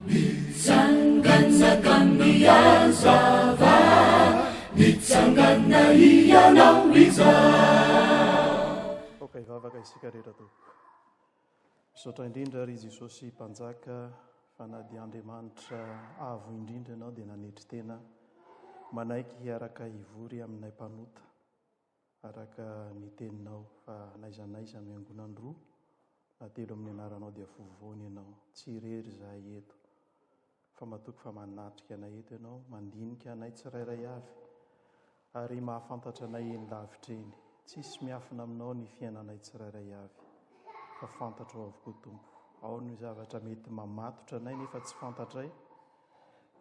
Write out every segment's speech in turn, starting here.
Mitsangana ka mihazava, mitsangana hianao izao. Aoka hivavaka isika rehetra tompoko. Misaotra indrindra ry Jesosy Mpanjaka fa na dia Andriamanitra avo indrindra Ianao dia nanetry tena manaiky hiaraka hivory aminay mpanota. Araka ny teninao fa n'aiza n'aiza miangonany roa na telo amin'ny anaranao dia vovoany ianao. Tsy irery izahay eto, fa matoky fa manatrika anay eto ianao, mandinika anay tsirairay avy, ary mahafantatra anay eny lavitra eny. Tsisy miafina aminao ny fiainanay tsirairay avy, fa fantatrao avokoa Tompo. Ao ny zavatra mety mamatotra anay nefa tsy fantatray.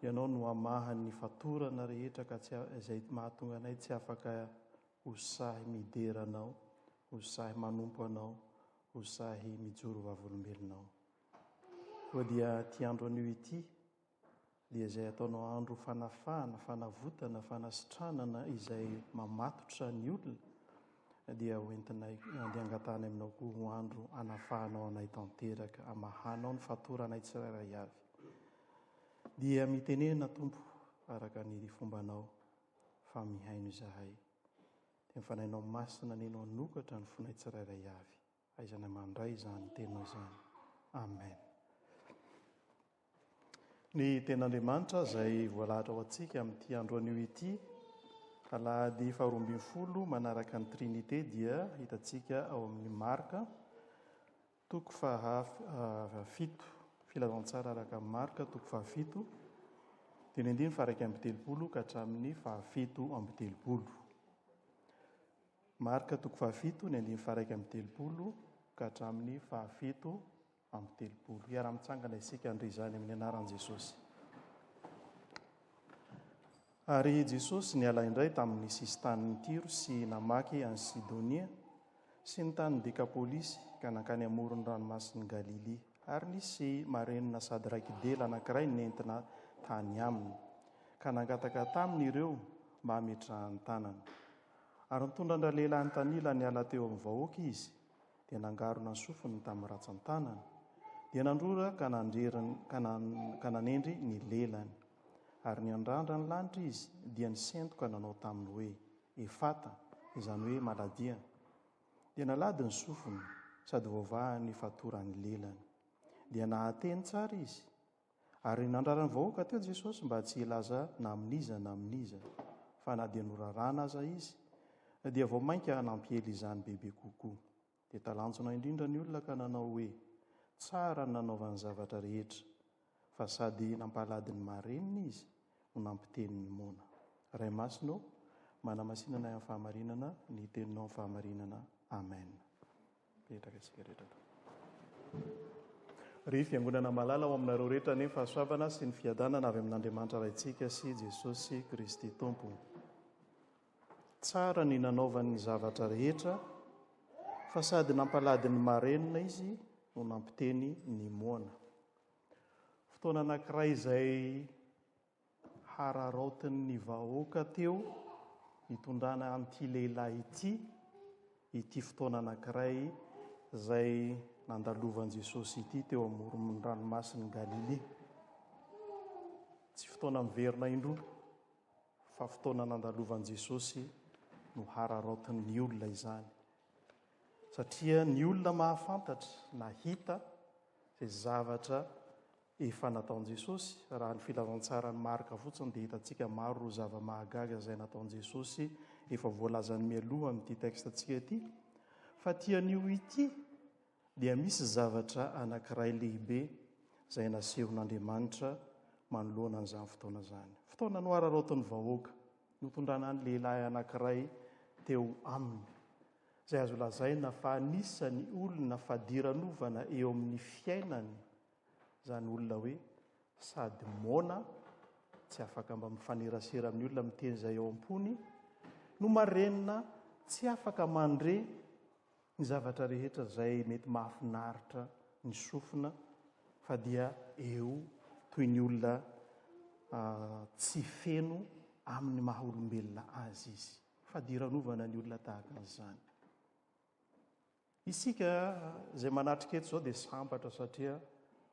Ianao no hamaha ny fatorana rehetra ka tsy izay mahatonga anay tsy afaka ho sahy midera Anao, ho sahy manompo Anao, ho sahy mijoro vavolombelonao. Koa dia ity andro anio ity dia izay ataonao andro fanafahana, fanavotana, fanasitranana izay mamatotra ny olona, dia ho entinay andeha angataha any aminao koa ho andro hanafahanao anay tanteraka, hamahanao ny fatoranay tsirairay avy. Dia mitenena, Tompo, araka ny fombanao, fa mihaino izahay. Dia ny Fanahinao Masina nino hanokatra ny fonay tsirairay avy. Aiza ny mandray izany tenao izany. Amen. Ny ten'Andriamanitra izay voalahatra ho antsika amin'ity andro anio ity, alahady faharoa ambin'ny folo manaraka ny Trinité dia hitantsika ao amin'ny Marka, toko fahafito, ah, filazantsara araka amin'ny Marka, toko fahafito, dia nendiny faraika amby telopolo ka hatramin'ny fahafito amby telopolo. Marka toko fahafito ny andininy faharaika amby telopolo ka hatramin'ny fahafito amby telopolo. Hiara-mitsangana isika handre izany amin'ny anaran'i Jesosy. Ary Jesosy niala indray tamin'ny sisin-tanin'i Tyro sy namaky an'i Sidonia sy ny tanin'i Dekapolisy ka nankany amoron'ny ranomasin'i Galilia. Ary nisy marenina sady raiki-dela anankiray nentina tany aminy, ka nangataka taminy ireo mba hametrahany tanana. Ary nitondra an-dralehilahy nitanila niala teo amin'ny vahoaka izy, dia nangarona ny sofiny tamin'ny ratsan-tanany, dia nandrora ka nandrery ka ka nanendry ny lelany. Ary niandrandra ny lanitra izy, dia nisento ka nanao taminy hoe, Efata, izany hoe, Maladia. Dia nalady ny sofiny, sady voavahan'ny fatoran'ny lelany. Dia nahateny tsara izy. Ary nandrara ny vahoaka teo Jesosy mba tsy hilaza na amin'iza na amin'iza, fa na dia norarana aza Izy, dia vao mainka nampiely izany bebe kokoa. Dia talanjona indrindra ny olona ka nanao hoe, Tsara ny nanaovany zavatra rehetra, fa sady nampalady ny marenina Izy no nampiteny ny moana. Ray Masina ô, manamasina anay amin'ny fahamarinana ny Teninao amin'ny fahamarinana. Amen. Mipetraka isika rehetra eto. Ry Fiangonana malala, ho aminareo rehetra anie ny fahasoavana sy ny fiadanana avy amin'Andriamanitra Raintsika sy Jesosy Kristy Tompo. Tsara ny nanaovany ny zavatra rehetra, fa sady nampalady ny marenina izy no nampiteny ny moana. Fotoana anankiray izay Hararaotin'ny vahoaka teo nitondrana an'ity lehilahy ity ity fotoana anankiray izay nandalovan'i Jesosy ity teo amoron'ny ranomasin'i Galilia. Tsy fotoana miverina indroa fa fotoana nandalovan'i Jesosy no hararaotin'ny olona izany. Satria ny olona mahafantatra, nahita izay zavatra efa nataon'i Jesosy, raha ny filazantsaran'i Marka fotsiny dia hitantsika maro ireo zava-mahagaga izay nataon'i Jesosy efa voalazany mialoha amin'ity texte-ntsika ity. Fa ity anio ity dia misy zavatra anankiray lehibe izay nasehon'Andriamanitra manoloana an'izany fotoana izany. Fotoana nohararaotin'ny vahoaka, notondrana ny lehilahy anankiray teo aminy, izay azo lazaina fa anisan'ny olona fadiranovana eo amin'ny fiainany Izany olona hoe sady moana, tsy afaka mba mifanerasera amin'ny olona miteny izay ao am-pony, no marenina tsy afaka mandre ny zavatra rehetra izay mety mahafinaritra ny sofina fa dia eo toy ny olona tsy feno amin'ny maha olombelona azy izy. Fadiranovana ny olona tahaka an'izany. Isika izay manatrika eto izao dia sambatra satria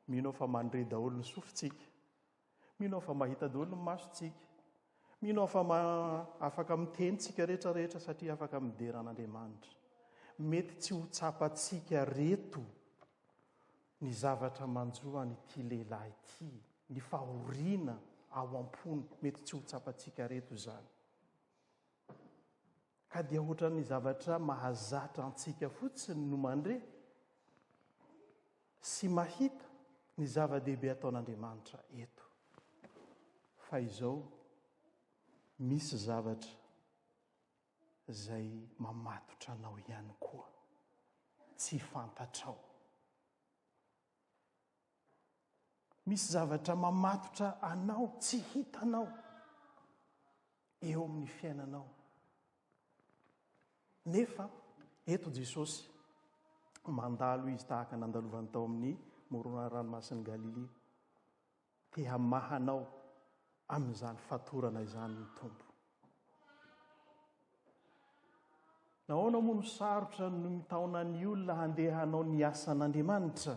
mino aho fa mandre daholo ny sofintsika. Mino aho fa mahita daholo ny masontsika. Mino aho fa ma... afaka miteny tsika rehetra rehetra satria afaka midera an'Andriamanitra. Mety tsy ho tsapantsika reto ny zavatra manjo an'ity lehilahy ity, ny fahoriana ao am-pony, mety tsy ho tsapantsika reto izany. Ka dia ohatran'ny zavatra mahazatra antsika fotsiny no mandre sy mahita ny zava-dehibe ataon'Andriamanitra eto. Fa izao, misy zavatra izay mamatotra anao ihany koa, tsy fantatrao. Misy zavatra mamatotra anao, tsy hitanao, eo amin'ny fiainanao. Nefa, eto Jesosy, mandalo izy tahaka nandalovany tao amin'ny moronà ranomasin'i Galilia. Te hamaha anao amin'izany fatorana izany ny Tompo. Nahoana moa no sarotra ny mitaona ny olona handeha hanao ny asan'Andriamanitra?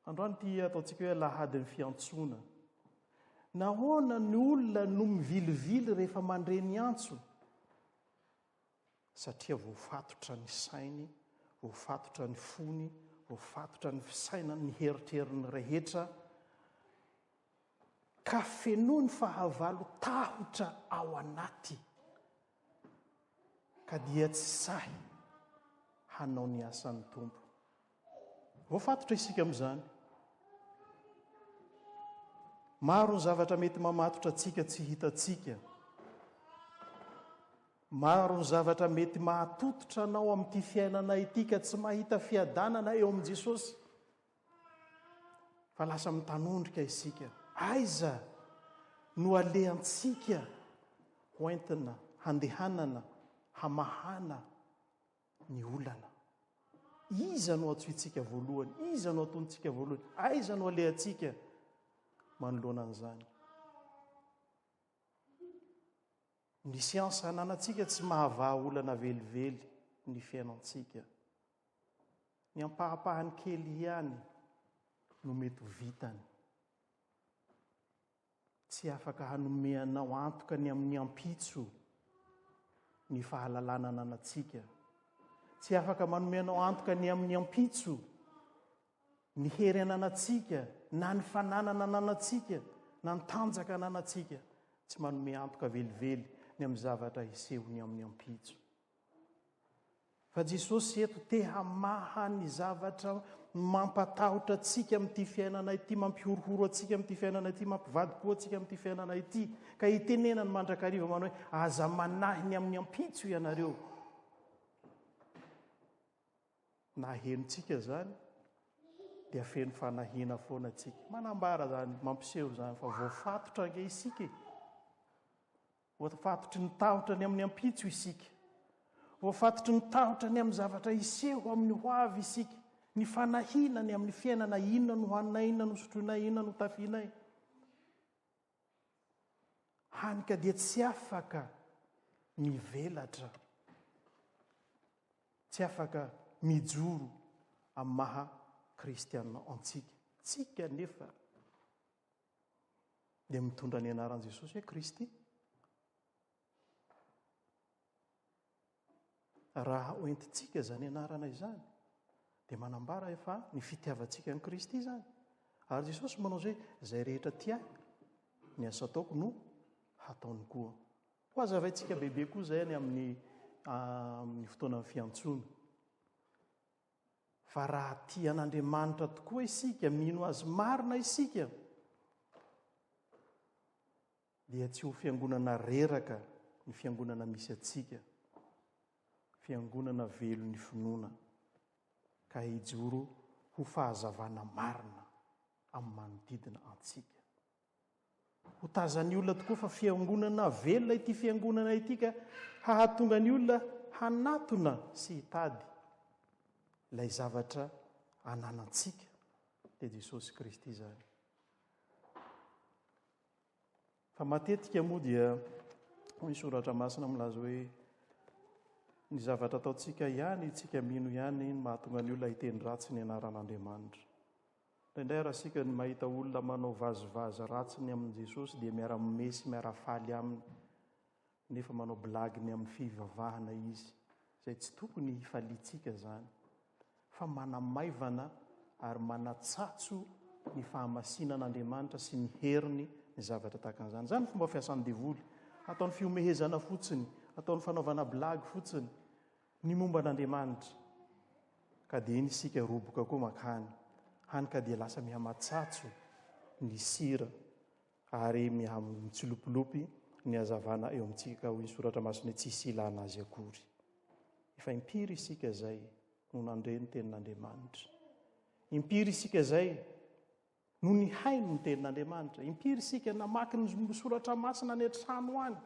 Androany ity ataontsika hoe lahadin'ny fiantsoana. Nahoana ny olona no mivilivily rehefa mandre ny antso? Satria voafatotra ny sainy, voafatotra ny fony, voafatotra ny fisainany, ny heritreriny rehetra. ka fenoiny fahavalo tahotra ao anaty ka dia tsy sahy hanao ny asan'ny Tompo. Voafatotra isika amin'izany. Maro ny zavatra mety mamatotra antsika tsy hitantsika. Maro ny zavatra mety mahatototra anao amin'ity fiainana ity ka tsy mahita fiadanana eo amin'i Jesosy. Fa lasa mitanondrika isika. Aiza no alehantsika hoentina handehanana hamahana ny olana? Iza no antsointsika voalohany? Iza no atontsika voalohany? Aiza no alehantsika manoloana an'izany? Ny siansa ananantsika tsy mahavaha olana velively ny fiainantsika. Ny ampahapahany kely ihany no mety ho vitany. Tsy afaka hanome anao antoka ny amin'ny ampitso ny fahalalana ananantsika. Tsy afaka manome anao antoka ny amin'ny ampitso Ny hery ananantsika, na ny fananana ananantsika, na ny tanjaka ananantsika, tsy manome antoka velively ny amin'ny zavatra hisehony amin'ny ampitso. Fa Jesosy eto te hamaha ny zavatra mampatahotra antsika amin'ity fiainana ity, mampihorohoro antsika amin'ity fiainana ity, mampivadi-po antsika amin'ity fiainana ity. Ka itenenany mandrakariva manao hoe aza manahy ny amin'ny ampitso ianareo. Na henontsika izany dia feno fanahiana foana tsika. Manambara izany, mampiseho izany fa voafatotra ange isika e. Voafatotry ny tahotra ny amin'ny ampitso isika. Voafatotry ny tahotra ny amin'ny zavatra hiseho amin'ny ho avy isika. Ny fanahiana ny amin'ny fiainana inona no haninay, inona no sotroinay, inona no tafianay. Hany ka dia tsy afaka mivelatra, tsy afaka mijoro amin'ny maha kristiana antsika. Tsika anefa dia mitondra ny anaran'i Jesosy hoe Kristy. Raha hoentintsika izany anarana izany, dia manambara efa ny fitiavantsika an'i Kristy izany. Ary Jesosy manao izay, izay rehetra tia ny asa ataoko no hataony koa. Ho azavaintsika bebe koa izay any amin'ny ah, amin'ny fotoanan'ny fiantsoana. Fa raha tia an'Andriamanitra tokoa isika, mino azy marina isika, Dia tsy ho fiangonana reraka ny fiangonana misy antsika, fiangonana velon'ny finoana, ka hijoro ho fahazavana marina amin'ny manodidina antsika. Ho tazan'ny olona tokoa fa fiangonana velona ity fiangonana ity ka hahatonga ny olona hanatona sy hitady ilay zavatra ananantsika, dia Jesosy Kristy izany. Fa matetika moa dia hoy ny soratra masina milaza hoe ny zavatra ataontsika ihany, tsika mino ihany no mahatonga ny olona hiteny ratsy ny anaran'Andriamanitra. Indraindray ary asika ny mahita olona manao vazivazy ratsy ny amin'i Jesosy dia miara-mime sy miara-faly aminy. Nefa manao blague ny amin'ny fivavahana izy, izay tsy tokony hifaliantsika izany, fa manamaivana ary manatsatso ny fahamasinan'Andriamanitra sy ny heriny ny zavatra tahaka an'izany. Izany ny fomba fiasan'ny devoly, ataony fihomehezana fotsiny, ataony fanaovana blague fotsiny ny momba an'Andriamanitra, ka dia iny isika roboka koa mankany, hany ka dia lasa mihamatsatso ny sira. Ary miha-mitsilopilopy ny hazavana eo amintsika, hoy ny Soratra Masina, hoe tsisy ilana azy akory. Efa impiry isika izay no nandre ny Tenin'Andriamanitra? Impiry isika izay no nihaino ny Tenin'Andriamanitra? Impiry isika namaky ny Soratra Masina any an-trano any?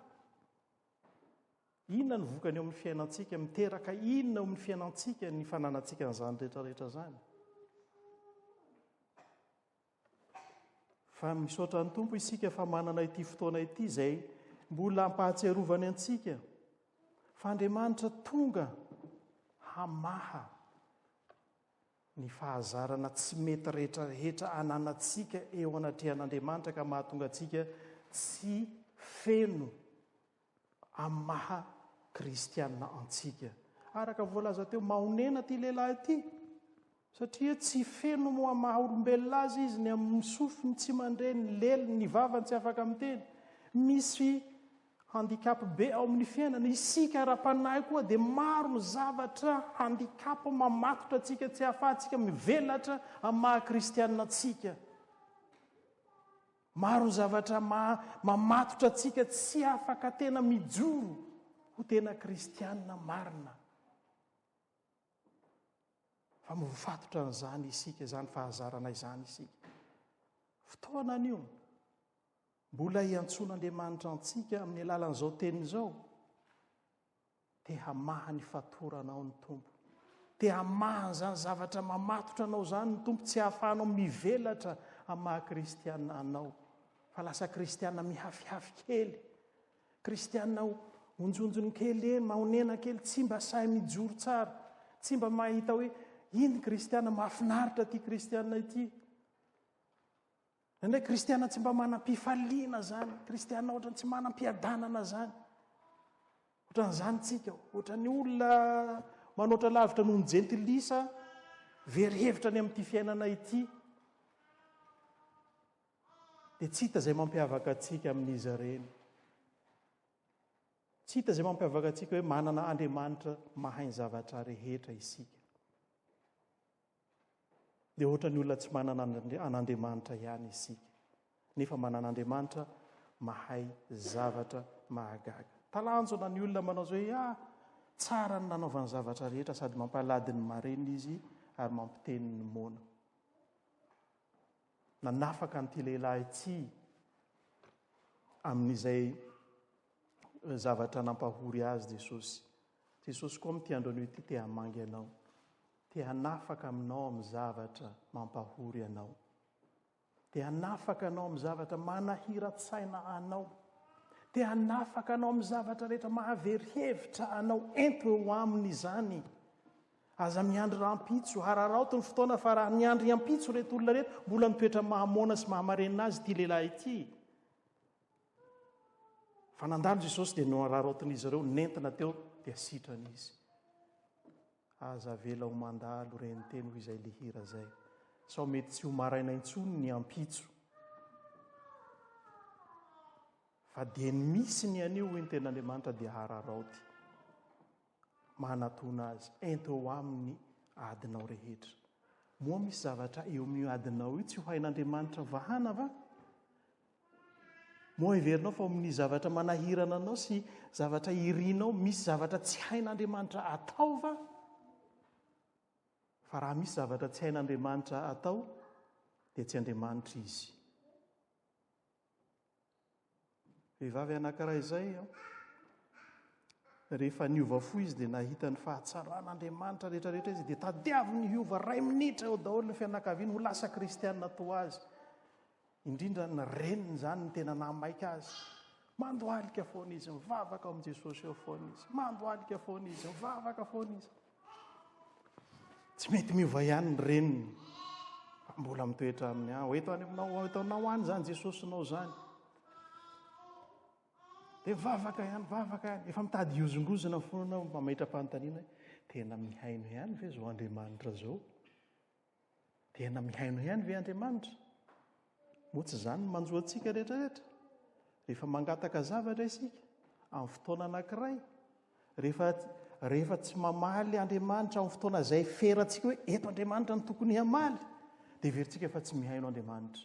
Inona no vokany eo amin'ny fiainantsika? Miteraka inona eo amin'ny fiainantsika ny fananantsika an'izany rehetrarehetra izany? Fa misaotra ny Tompo isika fa manana ity fotoana ity izay mbola ampahatsiarovany antsika fa Andriamanitra tonga hamaha ny fahazarana tsy mety rehetrarehetra ananantsika eo anatrehan'Andriamanitra ka mahatonga antsika tsy feno amin'ny maha kristiana antsika. Araka voalaza teo, mahonena ity lehilahy ity, satria tsy feno moa amin'ny maha olombelona azy izy, ny amin'ny sofiny tsy mandre, ny leliny, ny vavany tsy afaka miteny. Misy handicap be ao amin'ny fiainana. Isika ara-panahy koa dia maro ny zavatra handicap mamatotra antsika, tsy ahafahantsika mivelatra amin'ny maha kristiana antsika. Maro ny zavatra maha mamatotra antsika tsy afaka tena mijoro ho tena kristiana marina. Fa mifatotra an'izany isika, izany fahazarana izany isika. Fotoana anio, mbola iantsoan'Andriamanitra antsika amin'ny alalan'izao teny izao. Te hamaha ny fatorana ao ny Tompo. Te hamaha an'izany zavatra mamatotra anao izany ny Tompo, tsy hahafahanao mivelatra amin'ny maha kristiana anao, fa lasa kristiana mihafihafy kely, kristiana onjonjony kely eny, mahonena kely, tsy mba sahy mijoro tsara, tsy mba mahita hoe iny kristiana mahafinaritra ity kristiana ity. Indraindray kristiana tsy mba manam-pifaliana zany, kristiana ohatrany tsy manam-piadanana zany. Ohatran'izany tsika, ohatran'ny olona manoatra lavitra noho ny jentilisa, very hevitra any amin'ity fiainana ity. Dia tsy hita izay mampiavaka antsika amin'izy ireny. Tsy hita izay mampiavaka antsika hoe manana Andriamanitra mahay ny zavatra rehetra isika. Dia ohatra ny olona tsy manana an'Andriamanitra ihany isika. Nefa manana Andriamanitra mahay zavatra mahagaga. Talanjona ny olona manao izao hoe, ah, tsara ny nanaovany zavatra rehetra, sady mampalady ny marenina izy ary mampiteny ny moana. Nanafaka an'ity lehilahy ity amin'izay eh, zavatra nampahory azy Jesosy. Jesosy koa amin'ity andro anio ity te hamangy anao. Te hanafaka aminao amin'ny zavatra mampahory anao. Te hanafaka anao amin'ny zavatra manahiran-tsaina anao. Te hanafaka anao amin'ny zavatra rehetra mahavery hevitra anao. Ento eo aminy izany. Aza miandry rahampitso. Hararaoty ny fotoana fa raha niandry hampitso reto olona reto, mbola mitoetra mahamoana sy mahamarenina azy ity lehilahy ity. Fa nandalo Jesosy dia nohararaotin'izy ireo, nentina teo dia sitrana izy. Aza avela ho mandalo reny teny hoy izay le hira zay sao mety tsy ho maraina intsony ny ampitso fa dia ny misy ny anio hoy ny ten'Andriamanitra dia hararaoty manatona azy ento eo aminy adinao rehetra moa misy zavatra eo amin'io adinao io tsy ho hain'Andriamanitra vahana va Moa heverinao fa ao amin'ny zavatra manahirana anao sy zavatra irinao misy zavatra tsy hain'Andriamanitra atao va? Fa raha misy zavatra tsy hain'Andriamanitra atao, dia tsy Andriamanitra izy. Vehivavy anankiray izay, rehefa niova fo izy dia nahita ny fahatsaran'Andriamanitra rehetrarehetra izy, dia tadiaviny hiova ray minitra eo daholo ny fianakaviany ho lasa kristianina toa azy. Indrindra ny reniny izany no tena nahamaika azy. Mandohalika foana izy, mivavaka ao amin'i Jesosy eo foana izy. Mandohalika foana izy, mivavaka foana izy. Tsy mety miova ihany ny reniny. Mbola mitoetra amin'ny aho. Ah, eto any aminao, eto anao any izany Jesosy nao izany. Dia mivavaka ihany, mivavaka ihany. Efa mitady hiozongozona foana anao, mametra-panontaniana. Tena mihaino ihany ve izao Andriamanitra izao? Tena mihaino ihany ve Andriamanitra? Moa tsy izany no manjo antsika rehetrarehetra? Rehefa mangataka zavatra isika, amin'ny fotoana anankiray, rehefa, rehefa tsy mamaly Andriamanitra amin'ny fotoana izay ferantsika hoe eto Andriamanitra no tokony hamaly, dia verintsika fa tsy mihaino Andriamanitra.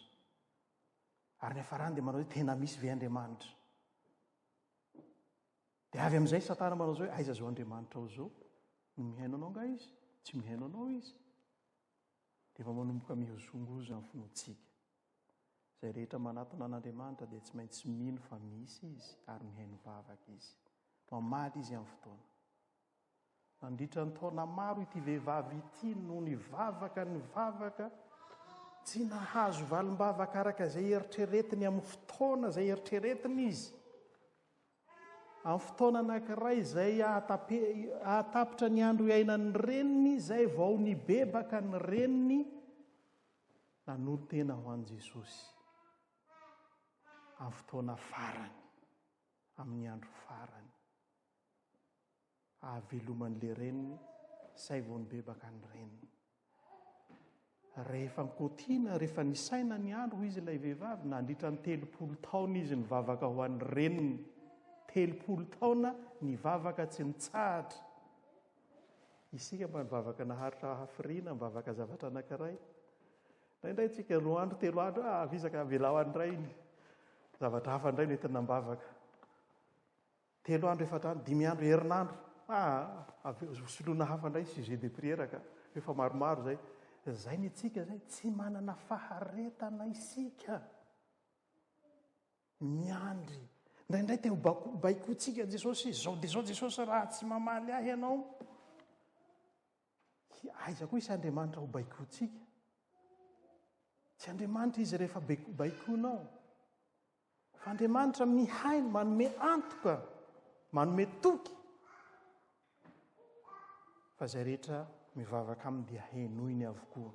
Ary ny hafarany dia manao hoe tena misy ve Andriamanitra? Dia avy amin'izay Satana manao izao hoe aiza izao Andriamanitrao izao? No mihaino anao nga izy? Tsy mihaino anao izy. Dia efa manomboka mihozongozo amin'ny finoantsika. Izay rehetra manatona an'Andriamanitra dia tsy maintsy mino fa misy izy ary mihaino vavaka izy. Mamaly izy amin'ny fotoana. Nandritra ny taona maro ity vehivavy ity no nivavaka nivavaka, tsy nahazo valim-bavaka araka izay eritreretiny amin'ny fotoana izay eritreretiny izy. Amin'ny fotoana anankiray izay ahatapitra ny andro iainan'ny reniny izay vao nibebaka ny reniny nanolo tena ho an'i Jesosy. Amin'ny fotoana farany, amin'ny andro farany. ahaveloman' le reniny say vao nibebaka ny reniny. Rehefa nkotiana, rehefa nisaina ny andro, hoy izy ilay vehivavy, nandritra ny telopolo taona izy nivavaka ho an'ny reniny. Telopolo taona nivavaka tsy nitsahatra. Isika mba nivavaka naharitra hafiriana, mivavaka zavatra anankiray. Indraindray tsika roa andro, telo andro, ah, avizaka avelaho andray. Zavatra hafa indray nety nambavaka. Telo andro efatra andro dimy andro herinandro ah avy eo ho soloina hafa indray ny sujet de prière ka rehefa maromaro izay izay ny antsika izay tsy manana faharetana isika miandry indraindray te ho bako baikoantsika jesosy izao dia izao jesosy raha tsy mamaly ahy ianao Hi, aiza koa isy Andriamanitra ho baikoantsika? Tsy Andriamanitra izy rehefa baiko, baikoanao. Fa Andriamanitra mihaino, manome antoka, manome toky. Fa izay rehetra mivavaka aminy dia henoiny avokoa.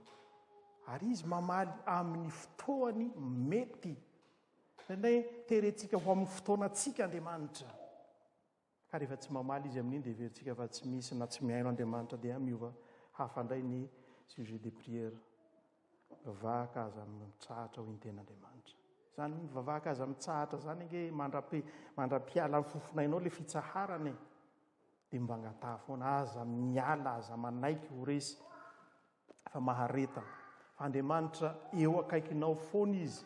Ary izy mamaly amin'ny fotoany mety. Indraindray terentsika ho amin'ny fotoanantsika Andriamanitra. Ka rehefa tsy mamaly izy amin'iny dia heverintsika fa tsy misy na tsy mihaino Andriamanitra dia miova hafa indray ny sujet de prière. Mivavaka aza mitsahatra hoy ny tenin'Andriamanitra. Izany mivavaka aza mitsahatra izany ange mandrapi, mandra-piala ny fofonainao ilay fitsaharana e. Dia mivangataha foana, aza miala, aza manaiky ho resy. fa maharetana. Fa Andriamanitra eo akaikinao foana Izy.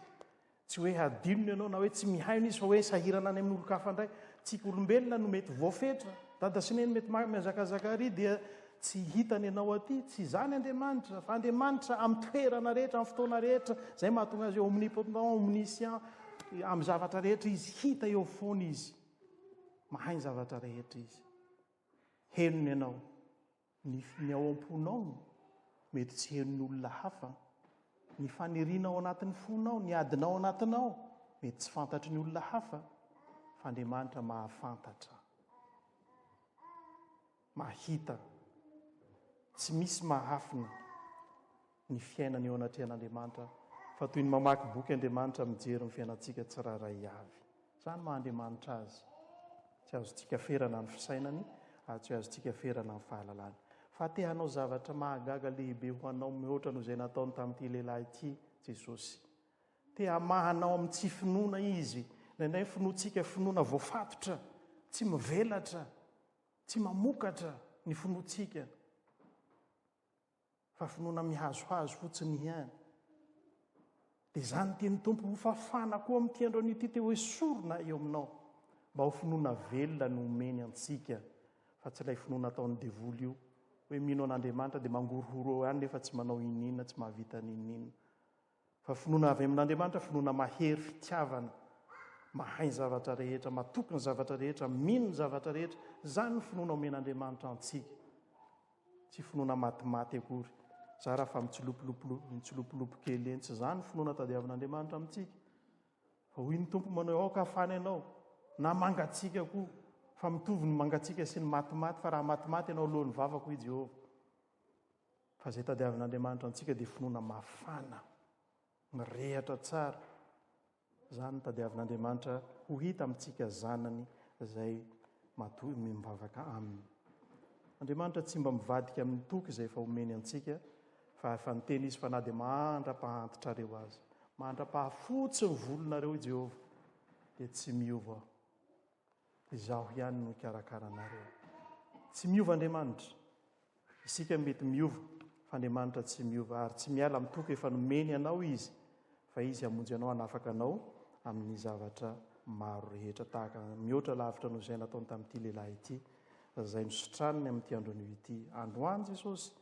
Tsy hoe hadinony ianao na hoe tsy mihaino Izy fa hoe sahirana any amin'ny olon-kafa indray. Tsika olombelona no mety voafetra. Dada sy neny mety mihazakazaka ary dia tsy hitany ianao aty. Tsy izany Andriamanitra. Fa Andriamanitra amin'ny toerana rehetra, amin'ny fotoana rehetra. Izay mahatonga azy omnipotent, omniscient. Amin'ny zavatra rehetra Izy. Hita eo foana Izy. Mahay ny zavatra rehetra Izy. Henony ianao. Ny ny ao am-ponao no mety tsy henon'ny olona hafa. Ny faniriana ao anatin'ny fonao, ny adinao ao anatinao mety tsy fantatry ny olona hafa fa Andriamanitra mahafantatra, mahita, tsy misy mahafina. ny fiainana eo anatrehan'Andriamanitra fa toy ny mamaky boky Andriamanitra mijery ny fiainantsika tsirairay avy. Izany maha Andriamanitra Azy. Tsy azontsika ferana ny fisainany ary tsy azontsika ferana ny fahalalany. Fa te hanao zavatra mahagaga lehibe ho anao mihoatra noho izay nataony tamin'ity lehilahy ity Jesosy. Te hamaha anao amin'ny tsy finoana Izy. Indraindray ny finoantsika finoana voafatotra, tsy mivelatra, tsy mamokatra ny finoantsika. Fa finoana mihazohazo fotsiny ihany. Dia izany tian'ny Tompo hofafana koa amin'ity androany ity te hoe sorona eo aminao. Mba ho finoana velona no omeny antsika. Fa tsy ilay finoana ataon'ny devoly io. Hoe mino an'Andriamanitra dia mangorohoro eo ihany nefa tsy manao inona inona, tsy mahavita n'inona inona. Fa finoana avy amin'Andriamanitra, finoana mahery, fitiavana, mahay ny zavatra rehetra, matoky ny zavatra rehetra, mino ny zavatra rehetra, izany ny finoana omen'Andriamanitra antsika. Tsy finoana matimaty akory, zara fa mitsilopilopilo, mitsilopilopy kely eny, tsy izany ny finoana tadiavin'Andriamanitra amintsika. Fa hoy ny Tompo manao, aoka hafana ianao, na mangatsiaka koa, fa mitovy ny mangatsiaka sy ny matimaty, fa raha matimaty ianao, leo ny vavako, hoy Jehovah. Fa izay tadiavin'Andriamanitra antsika dia finoana mafana, mirehatra tsara. Izany no tadiavin'Andriamanitra ho hita amintsika zanany izay matoa mivavaka aminy. Andriamanitra tsy mba mivadika amin'ny toky izay efa omeny antsika, fa efa niteny izy fa na dia mandra-pahantitrareo aza, mandra-pahafotsy ny volonareo i Jehovah, dia tsy miova Izaho ihany no hikarakara anareo. Tsy miova Andriamanitra. Isika mety miova, fa Andriamanitra tsy miova, ary tsy miala amin'ny toky efa nomeny anao Izy, fa Izy hamonjy anao hanafaka anao amin'ny zavatra maro rehetra, tahaka mihoatra lavitra noho izay nataony tamin'ity lehilahy ity, izay nositraniny amin'ity andron'io ity. Androany Jesosy,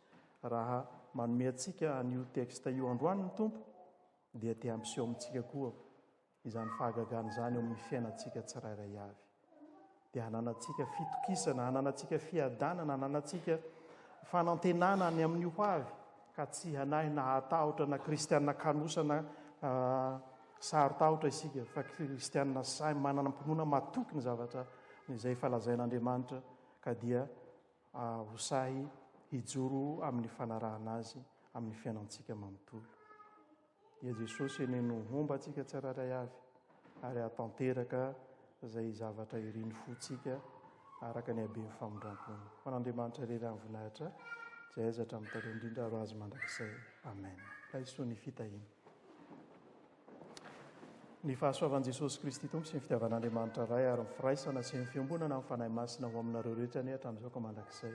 raha manome antsika an'io texte io androany ny Tompo, dia te hampiseho amintsika koa Izany fahagagana izany eo amin'ny fiainantsika tsirairay avy dia hananantsika fitokisana, hananantsika fiadanana, hananantsika fanantenana any amin'ny ho avy, ka tsy hanahy na hahatahotra na kristiana kanosa na saro-tahotra isika, fa kristiana sahy manana am-pinoana matoky ny zavatra izay efa lazain'Andriamanitra, ka dia ho sahy hijoro amin'ny fanarahana Azy amin'ny fiainantsika manontolo. Dia Jesosy anie no homba antsika tsirairay avy ary hahatanteraka izay zavatra irin'ny fontsika araka ny haben'ny famindram-pony. Ho an'Andriamanitra irery ny voninahitra, izay aiza hatramin'ny taloha indrindra ary ho Azy mandrakizay. Amen. Laiso ny fitahiana. Ny fahasoavan'i Jesosy Kristy Tompo sy ny fitiavan'Andriamanitra Ray ary ny firaisana sy ny fiombonana amin'ny Fanahy Masina ho aminareo rehetra anie hatramin'izao ka mandrakizay.